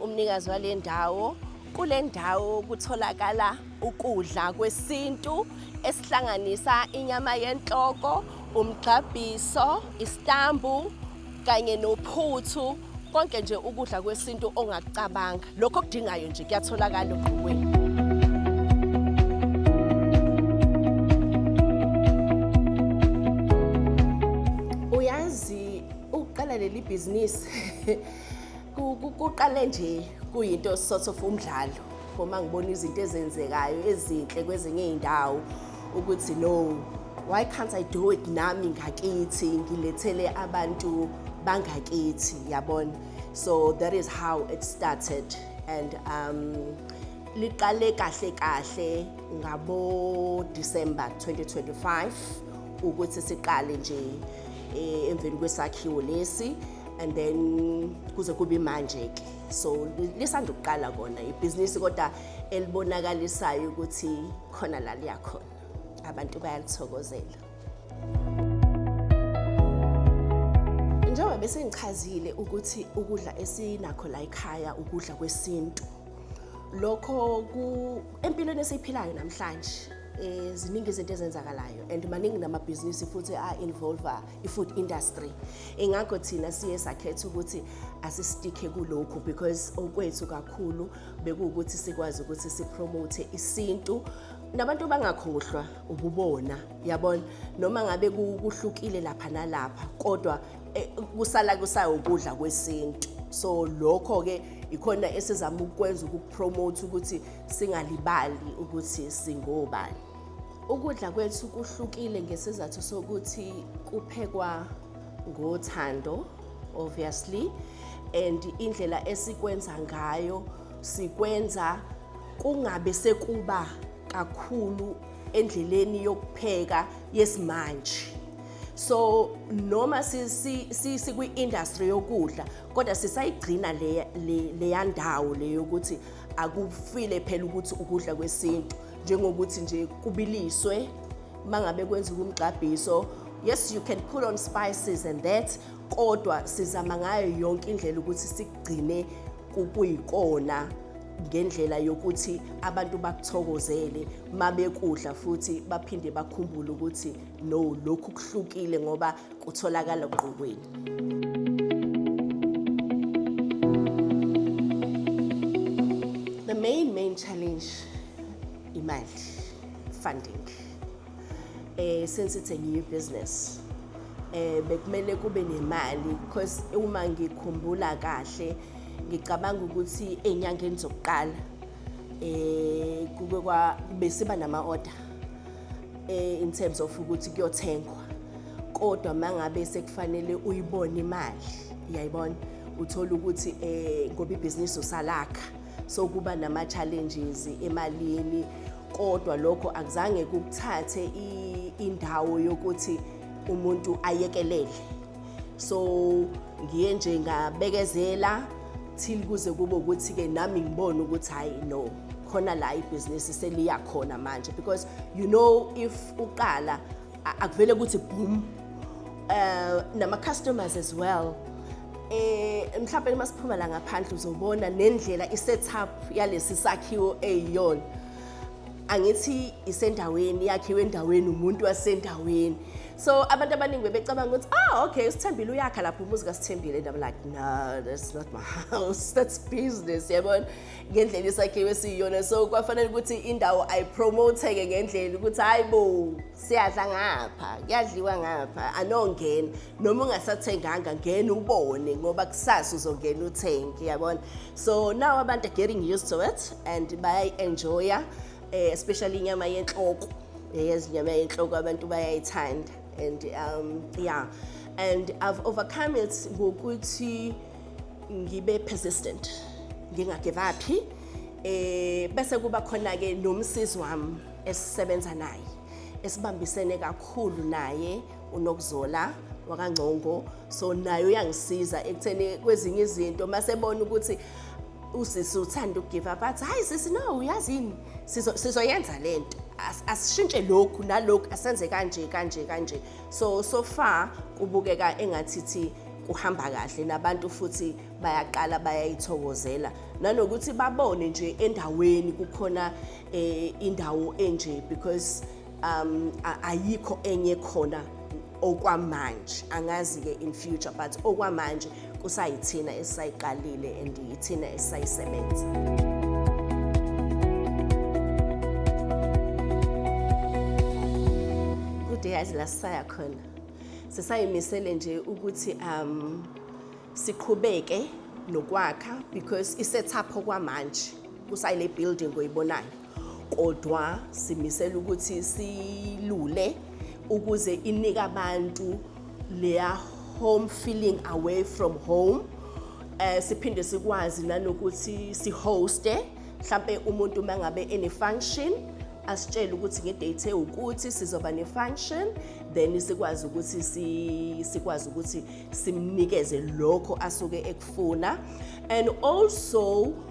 Umnikazi wale ndawo kule ndawo kutholakala ukudla kwesintu esihlanganisa inyama yenhloko, umgxabhiso, isitambu kanye nophuthu konke nje ukudla kwesintu ongakucabanga lokho okudingayo nje kuyatholakala ogqokweni uyazi ukuqala leli bhizinisi Kuqale nje kuyinto sort of umdlalo uma ngibona izinto ezenzekayo ezinhle kwezinye izindawo ukuthi no why can't I do it nami ngakithi ngilethele abantu bangakithi yabona so that is how it started and um liqale kahle kahle ngabo December 2025 ukuthi siqale nje eh, emveni kwesakhiwo lesi and then kuze kube manje ke so lisanda ukuqala kona ibhizinisi kodwa elibonakalisayo ukuthi khona la liyakhona abantu bayalithokozela njengoba bese ngichazile ukuthi ukudla esinakho la ekhaya ukudla kwesintu lokho ku empilweni esiyiphilayo namhlanje eh ziningi izinto ezenzakalayo and maningi namabhizinisi futhi a-involve i-food industry ingakho thina siye sakhetha ukuthi asistikhe kulokhu because okwethu kakhulu bekuwukuthi sikwazi ukuthi sipromote isintu nabantu bangakhohlwa ububona yabona noma ngabe kuhlukile lapha nalapha kodwa eh, kusala kusayo ukudla kwesintu so lokho ke ikhona esizama ukwenza ukupromote ukuthi Singalibali ukuthi singobani. Ukudla kwethu kuhlukile ngesizathu sokuthi kuphekwa ngothando obviously and indlela esikwenza ngayo sikwenza kungabe sekuba kakhulu endleleni yokupheka yesimanje so noma sikwi-industry yokudla kodwa sisayigcina leya ndawo leyokuthi akufile phela ukuthi ukudla kwesintu njengokuthi nje kubiliswe mangabe kwenza umgqabhiso yes you can put on spices and that kodwa sizama ngayo yonke indlela ukuthi sigcine kuyikona ngendlela yokuthi abantu bakuthokozele mabekudla futhi baphinde bakhumbule ukuthi no lokhu kuhlukile ngoba kutholakala ngqokweni. challenge imali funding eh since it's a new business eh bekumele kube nemali because uma ngikhumbula kahle ngicabanga ukuthi enyangeni zokuqala eh kube kwa besiba nama order eh, in terms of ukuthi kuyothengwa kodwa mangabe sekufanele uyibone imali uyayibona uthola ukuthi eh ngoba ibhizinisi usalakha so kuba nama challenges emalini kodwa lokho akuzange kukuthathe indawo yokuthi umuntu ayekelele so ngiye nje ngabekezela till kuze kube ukuthi-ke nami ngibone ukuthi hhayi no khona la ibhizinisi seliya khona manje because you know if uqala akuvele ukuthi boom uh, nama-customers as well eh mhlawumbe uma siphuma la ngaphandle uzobona nendlela i-setup yalesi sakhiwo eyiyona angithi isendaweni yakhiwe endaweni umuntu wasendaweni so abantu abaningi bebecabanga ukuthi ah okay usithembile uyakha lapho umuzi kasithembile and i'm like no that's not my house that's business yabona ngendlela isakhiwe siyiyona so kwafanele ukuthi indawo ayipromote-ke ngendlela ukuthi hayi bo siyadla ngapha kuyadliwa ngapha anongena noma ungasathenganga ngena ubone ngoba kusasa uzongena uthenge yabona so now abantu are getting used to it and bayayi-enjoya eh, especially inyama yenhloko eh, yazi inyama yenhloko abantu bayayithanda and um, yeah and i've overcome it ngokuthi ngibe persistent ngingagivaphi eh bese kuba khona ke nomsisi wami esisebenza naye esibambisene kakhulu naye unokuzola wakangcongo so naye uyangisiza ekutheni kwezinye izinto masebona ukuthi usisi uthanda ukugive up athi hayi sisi no uyazi yini sizoyenza le nto asishintshe lokhu nalokhu asenze kanje kanje kanje so so far kubukeka engathithi kuhamba kahle nabantu futhi bayaqala bayayithokozela nanokuthi babone nje endaweni kukhona eh, indawo enje because um a- ayikho enye khona okwamanje angazi ke in future but okwamanje kusayithina esisayiqalile and yithina esisayisebenza kude yazi la sisaya khona sisayimisele nje ukuthi um siqhubeke nokwakha because isetup okwamanje kusayile building oyibonayo kodwa simisela ukuthi silule ukuze inike abantu leya home feeling away from home eh siphinde sikwazi nanokuthi sihoste mhlambe umuntu mangabe ene function asitshele ukuthi ngedate ukuthi sizoba ne function then sikwazi ukuthi si sikwazi ukuthi simnikeze lokho asuke ekufuna and also